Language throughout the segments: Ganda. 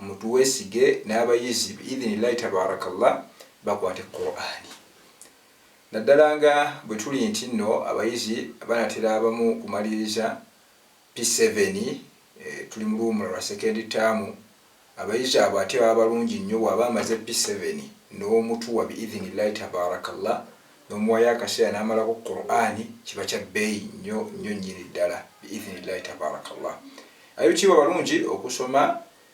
mutuwesige n'abayizi bi'idhinillahi tabaarakallah bakwate Qur'ani naddala nga bwetuli nti nno abayizi banatera abamu kumaliriza P-seven tuli mu luwumula lwa second term abayizi abo ate baba balungi nnyo bwaba amaze P-seven n'omutuwa bi'idhinillahi tabaarakallah N'omuwayo akaseera n'amalako Qur'an kiba kya bbeeyi nnyo nnyo nnyini ddala bi-idhni-llaahi tabaaraka-llah. Ab'ekitiibwa balungi okusoma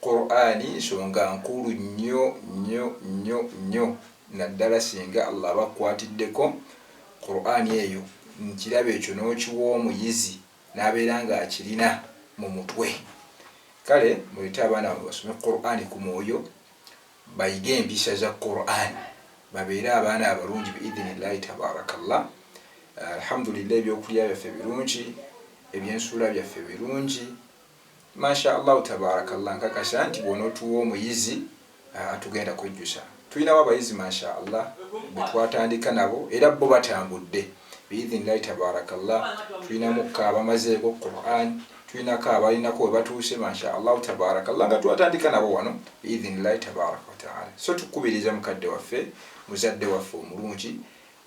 Qur'an nsonga nkulu nnyo nnyo nnyo nnyo naddala singa Allah aba akkwatiddeko Qur'an eyo nkirabo ekyo n'okiwa omuyizi n'abeera nga akirina mu mutwe. Kale muleete abaana bammwe basome Qur'an ku mwoyo bayige empisa za Quran babeere abaana abalungi biidhinillahi tabarakallah Alhamdulillah ebyokulya byaffe birungi ebyensuula byaffe birungi Masha Allahu tabarakallah nkakasa nti bwonotuwa omuyizi ah, tugenda kwejjusa tulinawo abayizi Masha Allah betwatandika nabo era bo batambudde biidhinillahi tabarakallah tulinamuka abamazeeko Quran tulinako abalinako webatuuse masha allahu tabaraka llah nga twatandika nabo wano biidhinillahi tabaraka wataala so tukubiriza mukadde waffe muzadde waffe omulungi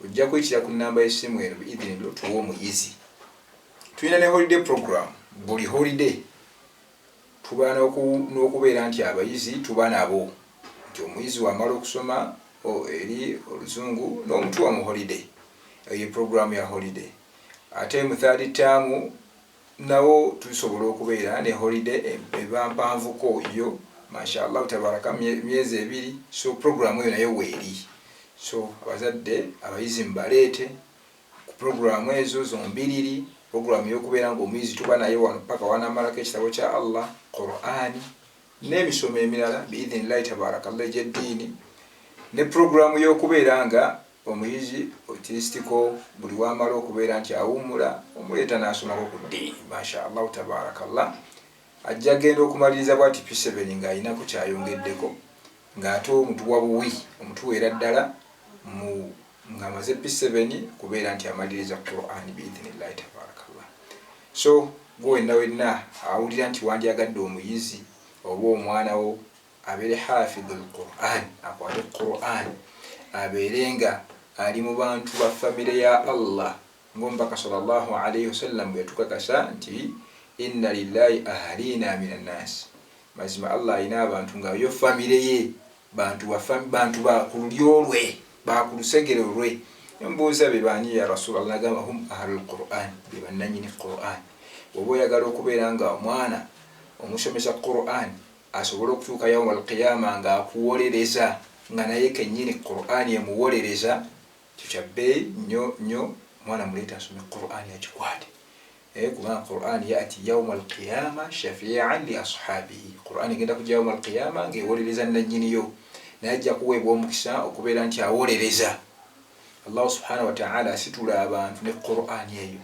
ojja kuyitira ku namba yesimu eno biidhinillo tuwa omuyizi tulina ne holiday program buli holiday tuba n'okubeera nti abayizi tuba nabo nti omuyizi wamala okusoma eri oluzungu n'omutuwa mu holiday eyo programu ya holiday ate mu third term Nawo tusobola okubeera ne holiday eba mpanvuko yo mashallah tabarakah myezi ebiri so program eyo nayo weeri so abazadde abayizi mubaleete ku program ezo zombiriri program yokubeera nga omuyizi tuba naye wano paka wanamalako ekitabo kya Allah Quran n'emisomo emirala biidhinillahi tabarakallah egyeddiini ne program yokubeera nga Omuyizi otilisitiko buli wamala okubeera nti awummula omuleeta n'asomako ku ddiini Masha Allah Tabaarakallah. Ajja genda okumaliriza bwati P-seven ng'alinako ky'ayongeddeko ng'ate omutu wa buwi omutuweera ddala mu ng'amaze P-seven okubeera nti amaliriza Qur'an bi-idhinillahi Tabaarakallah. So gwe wenna wenna awulira nti wandyagadde omuyizi oba omwana wo abeere hafidhu lquran akwate quran abeere nga ali mu bantu ba famire ya allah ngaomubaka salllah alaihi wasallam bweyatukakasa nti inna lillahi ahaliina min annaasi mazima allah alina abantu nga yo famire ye bantu bantu bakululyolwe bakulusegere olwe mbuuza bebaani ya rasulllah nagamba hum ahlu lquran bebannanyini quran oba oyagala okubeera nga omwana omusomesa quran Asobole okutuuka Yawumal Qiyaama nga akuwolereza nga naye kennyini Kuraani emuwolereza, ekyo kya bbeeyi nnyo nnyo. Omwana muleete asome Kuraani agikwate eh, kubanga Kuraani ya'ti Yawumal Qiyaama shafii'an li ashaabihi, Kuraani egenda kujja Yawumal Qiyaama nga ewolereza nnannyiniyo, naye ajja kuweebwa omukisa okubeera nti awolereza. Allahu Subhaanahu wa Ta'aala asitula abantu ne Kuraani eyo.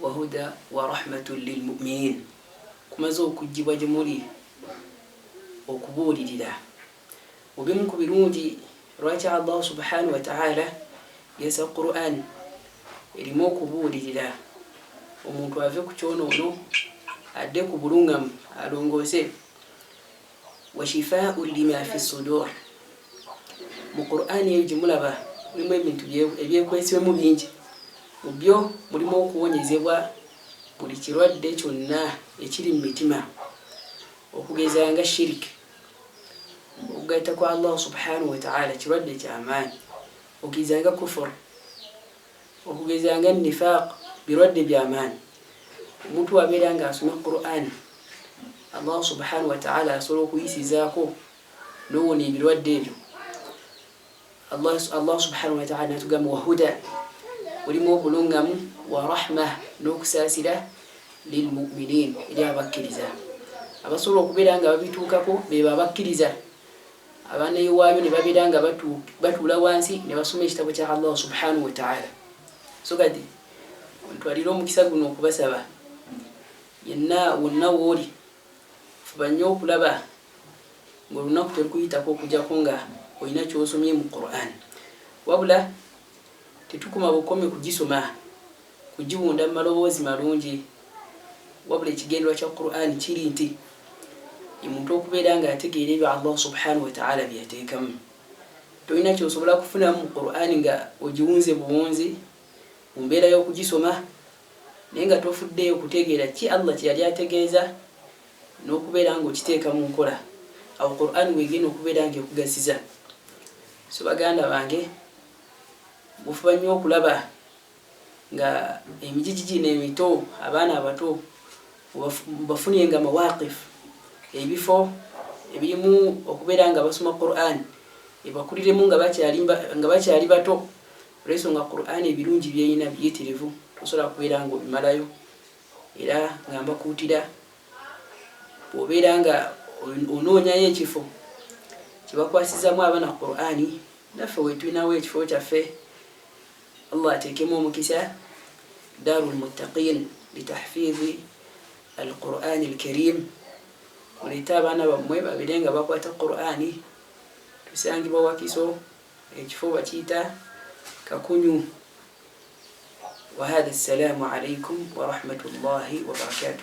wahuda warahmatun lilmuminin kumaze okujjibwa gyemuli okubuulirira mubimu ku birungi lwaki allahu subhanahu wataala yasa quran erimu okubuulirira omuntu ave ku kyonoono adde ku bulungamu alongoose wa shifaa'un lima fi sudur mu Qur'an eyo gye mulaba mulimu ebintu ebyekwesibemu bingi mu byo mulimu okuwonyezebwa buli kirwadde kyonna ekiri mu mitima okugeza nga shiriki okugatta kwa allahu subhanahu wataala kirwadde kyamaanyi okugeza nga kufuru Okugeza nga Nifaaq birwadde bya maanyi. Omuntu bw'abeera ng'asoma Qur'an, Allah subhaanahu wa ta'aala asobola okuyisizaako n'owona ebirwadde ebyo. Allah, Allah subhaanahu wa ta'aala natugamba wa huda, olimu obulungamu wa rahma n'okusaasira lilmuminin eri abakkiriza abasobola okubeera nga babituukako bebo abakkiriza abaana iwaayo ne babeera nga batuula wansi ne basoma ekitabo kya allah subhanahu wataala so kati ntwalire omukisa guno okubasaba yenna wonna wooli fuba nnyo okulaba ngaolunaku terukuyitako okujako nga olina kyosomye mu quran wabula Tetukoma bukomi kugisoma, kugiwunda mu maloboozi malungi, wabula ekigendererwa kya Qur'an kiri nti omuntu okubeera nga ategeera ebyo Allah subhanahu wa ta'ala bye yateekamu. Tolina ky'osobola kufunamu mu Qur'an nga ogiwunze buwunzi mu mbeera y'okugisoma naye nga tofuddeeyo kutegeera ki Allah kye yali ategeeza n'okubeera nga okiteeka mu nkola. Awo Qur'an w'egenda okubeera nga ekugasiza. So baganda bange. gufuba nnyo okulaba nga emijiji gino emito abaana abato bafunye nga mawaqif ebifo ebirimu okubeera nga basoma quran ebakuliremu nga bakyali bato olwensonga quran ebirungi byeyina biyitirivu osobola kubeera nga obimalayo era nga mbakuutira bwobeera nga onoonyayo ekifo kyebakwasizamu abaana qurani naffe wetulinawo ekifo kyaffe allah ateekemu omukisa daru lmuttaqin litahfizi alqurani alkarim mulete abaana bammwe babire nga bakwata qurani tusangibwa wakiso ekifo bakiyita kakunyu wahadha assalamu alaikum warahmatullahi wabarakatuh